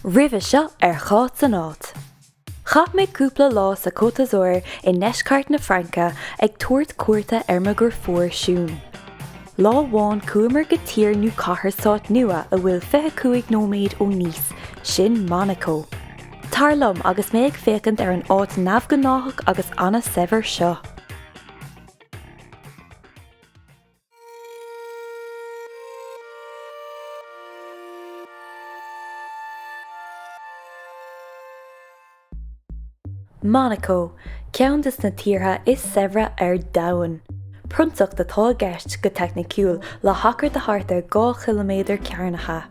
Roimhe seo ar Cháit san Áit. Chaith mé cúpla lá sa Côte d'Azur i ndeisceart na Fraince ag tabhairt cuairte ar mo dhriofúr Siún. Lá amháin chuamar go tír nó cathair sáith nua atá fiche cúig nóiméad ó Nice, sin Monaco. Tar liom agus mé ag féachaint ar an áit neamhghnáthach agus an-saibhir seo. Monaco, ceann de na tíortha is saibhre ar domhan. Prionsacht atá i gceist, go teicniciúil, le hachar de thart ar dhá chiliméadar cearnaithe.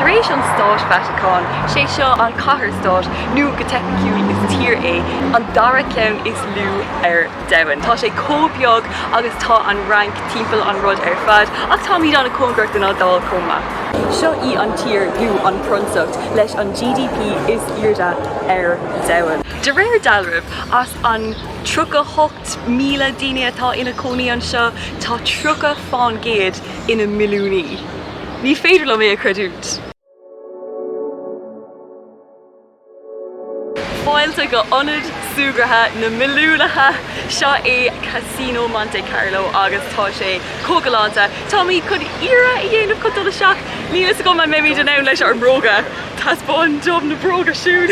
Tar éis an Stáit Vatacáin, is é seo an cathair-stát, nó go teicniciúil is tír é, an dara ceann is lú ar domhan. Tá sé comh beag agus tá an Fhrainc timpeall an rud ar fad, ach táimid an-chóngarach don Iodáil comh maith. Seo í an tír lú an prionsacht, leis an GDP is airde ar domhan. De réir dealraimh, as an 38,000 duine atá ina cónaí anseo, tá 30% ina milliúnaí. Ní féidir liom é a chreidiúint. Fáilte go ionad súgartha na milliúnaithe! Seo é Casino Monte Carlo agus tá sé chomh galánta. Táimid chun iarraidh a dhéanamh chun dul isteach. Níl a fhios agam an mbeimid in ann leis ár mbróga. Taispeáin dom na bróga, Siún!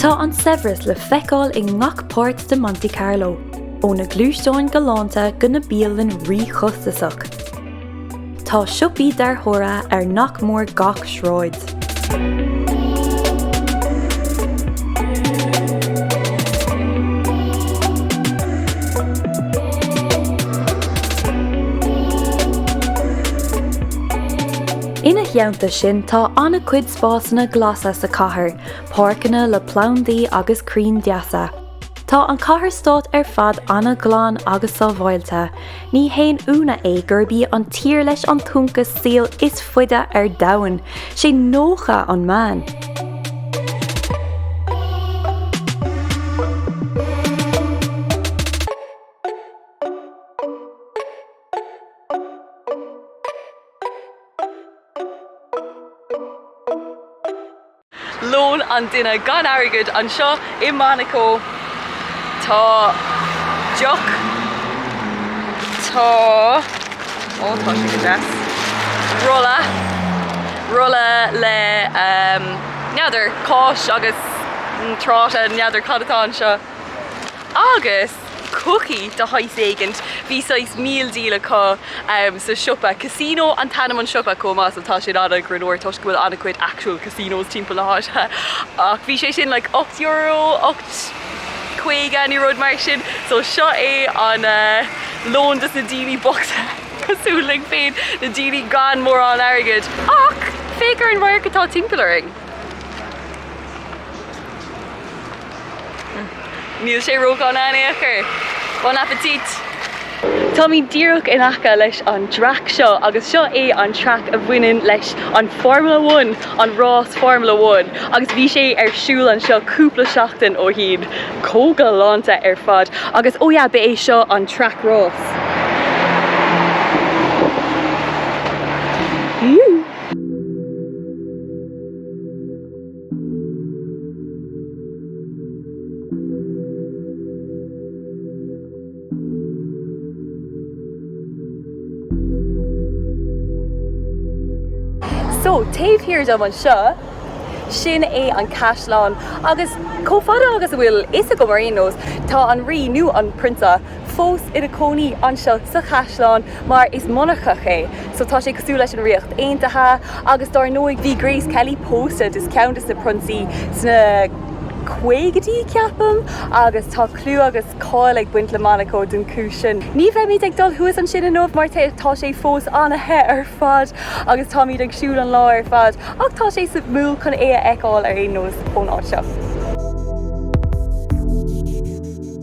Tá an saibhreas le feiceáil i ngach páirt de Monte Carlo, ó na gluaisteáin galánta go na bialanna ríchostasach. Tá siopaí dearthóra ar nach mór gach sráid. Ina theannta sin tá an-chuid spásanna glasa sa chathair, páirceanna le plandaí agus crainn deasa. Tá an chathair stáit ar fad an-ghlan agus sábháilte, ní haon ionadh é gurb í an tír leis an t-ionchas saoil is faide ar domhan, sé 90 an meán. Lón an duine gan airgead anseo i Monaco. Tá deoch, tá, ó tá sé go deas, rolla, rolla le ehm n'fheadar, cáis agus tráta, n'fheadar cad atá anseo agus. cocaí de shaghas éigint. Bhí saghas meal deal acu sa siopa. Casino an t-ainm an siopa chomh maith so tá sé an-ghreannmhar toisc go bhfuil an-chuid actual casinos timpeall na háite. Ach bhí sé sin like ocht euro, ocht caoga nó rud mar sin so seo é an lón dos na daoine bochta cosúil linn féin, na daoine gan mórán airgid. Ach féach ar an radharc atá timpeall orainn. Níl sé ródhona in aon chor. Bon appetit! Táimid díreach in aice leis an dtraic seo agus seo é an traic a bhaineann leis an Formula One, an rás Formula One agus bhí sé ar siúl anseo cúpla seachtain ó shin. Chomh galánta ar fad agus ó yeah, ba é seo an traic rás. So, taobh thiar dom anseo, sin é an caisleán, agus chomh fada agus a bhfuil a fhios agam ar aon nós, tá an Rí, nó an Prionsa, fós ina cónaí anseo sa chaisleán mar is monarcacht é so tá sé cosúil leis an Ríocht Aontaithe agus dár ndóigh bhí Grace Kelly pósta do cheann de na prionsaí sna caogaidí ceapaim agus tá clú agus cáil ag baint le Monaco don chúis sin. Ní bheimid ag dul thuas ansin inniu mar tá sé fós ana-the ar fad agus táimid ag siúl an lá ar fad ach tá sé suimiúil chun é a fheiceáil ar aon nós ón áit seo.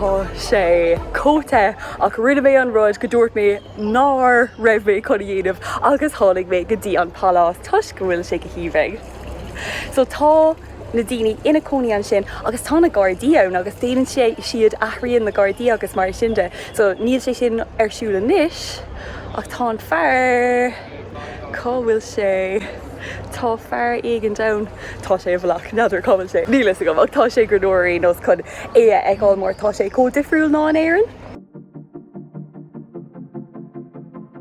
Tá sé chomh te ach rinne mé an rud go dúirt mé nár raibh mé chun a dhéanamh agus tháinig mé go dtí an pálás toisc go bhfuil sé go haoibhinn. So tá na daoine ina cónaí ansin agus tá na Gardaí ann agus déanann sé siad athraíonn na Gardaí agus mar sin de so níl sé sin ar siúl anois ach tá an fear cá bhfuil sé tá fear éigin ann tá sé i bhfolach n'fheadar cá bhfuil sé níl a fhios agam ach tá sé go leor ar aon nós chun é a fheiceáil mar tá sé chomh difriúil ná in Éirinn.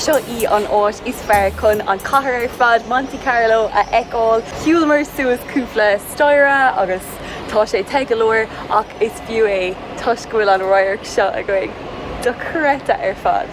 Seo í an áit is fearr chun an chathair ar fad, Monte Carlo, a fheiceáil. Shiúlamar suas cúpla staighre agus Tá sé te go leor ach is fiú é toisc go bhfuil an radharc seo againn. Dochreidte ar fad!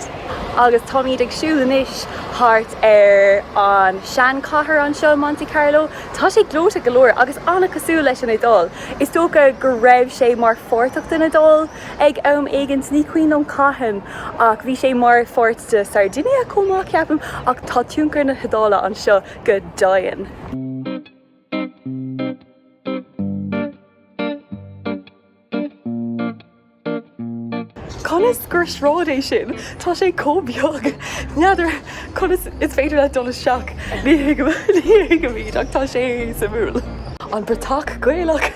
Agus táimid ag siúl anois thart ar an seanchathair anseo, Monte Carlo. Tá sé gleoite go leor agus an-chosúil leis an Iodáil. Is dócha go raibh sé mar pháirteach den Iodáil ag am éigint, ní cuimhin liom cathain, ach bhí sé mar pháirt de Sardinia chomh maith, ceapaim. Ach tá tionchar na hIodáile anseo go daingean. Conas gur sráid é sin? Tá sé chomh beag. N'fheadar conas is féidir leat dul isteach, ní thuigim é ach tá sé suimiúil. An Bratach Ghaelach!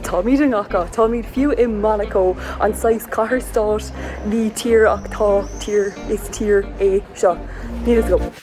Táimid i ngach áit, táimid fiú i Monaco, an saghas cathair stáit, ní tír ach tá tír, is tír é seo.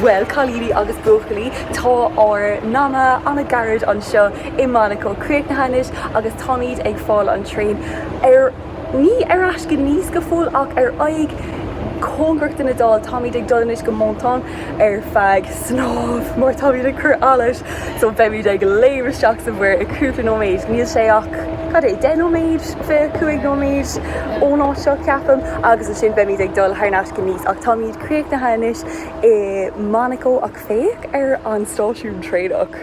Bhuel, cailíní agus buachaillí, tá ár n-am an-gairid anseo i Monaco críochnaithe anois agus táimid ag fáil an traein ar, ní ar ais go Nice go fóill, ach ar aghaidh cóngarach don Iodáil. Táimid ag dul anois go Menton ar feadh snámh mar táimid ag cur allais so beimid ag léim isteach sa mhuir i cúpla nóiméid. Níl sé ach, cad é, deich nóiméid, fiche cúig nóiméid ón áit seo, ceapaim, agus ansin beimid ag dul thar n-ais go Nice ach táimid. críochnaithe anois i Monaco ach féach ar an stáisiún traenach.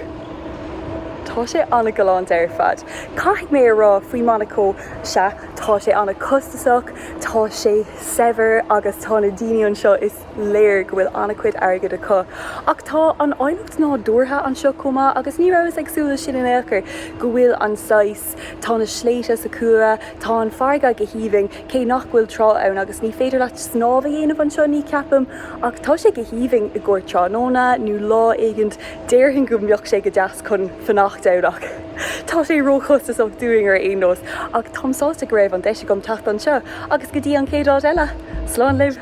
Tá sé an-ghalánta ar fad. Caithfidh mé a rá faoi Monaco, sea, tá sé an-chostasach, tá sé saibhir agus tá na daoine anseo, is léir go bhfuil an-chuid airgid acu. Ach tá an áilleacht nádúrtha anseo chomh maith agus ní rabhas ag súil leis sin in aon chor, go bhfuil an saghas, Tá na sléibhte sa chúlra, tá an farraige go haoibhinn, cé nach bhfuil trá ann agus ní féidir leat snámh a dhéanamh anseo, ní cheapaim, ach tá sé go haoibhinn i gcomhair tráthnóna nó lá éigint, déarfainn go mbeadh sé go deas chun fanacht ann ach tá sé ró-chostasach dúinn ar aon nós, ach táim sásta go raibh an deis agam teacht anseo agus go dtí an chéad áit eile, slán libh!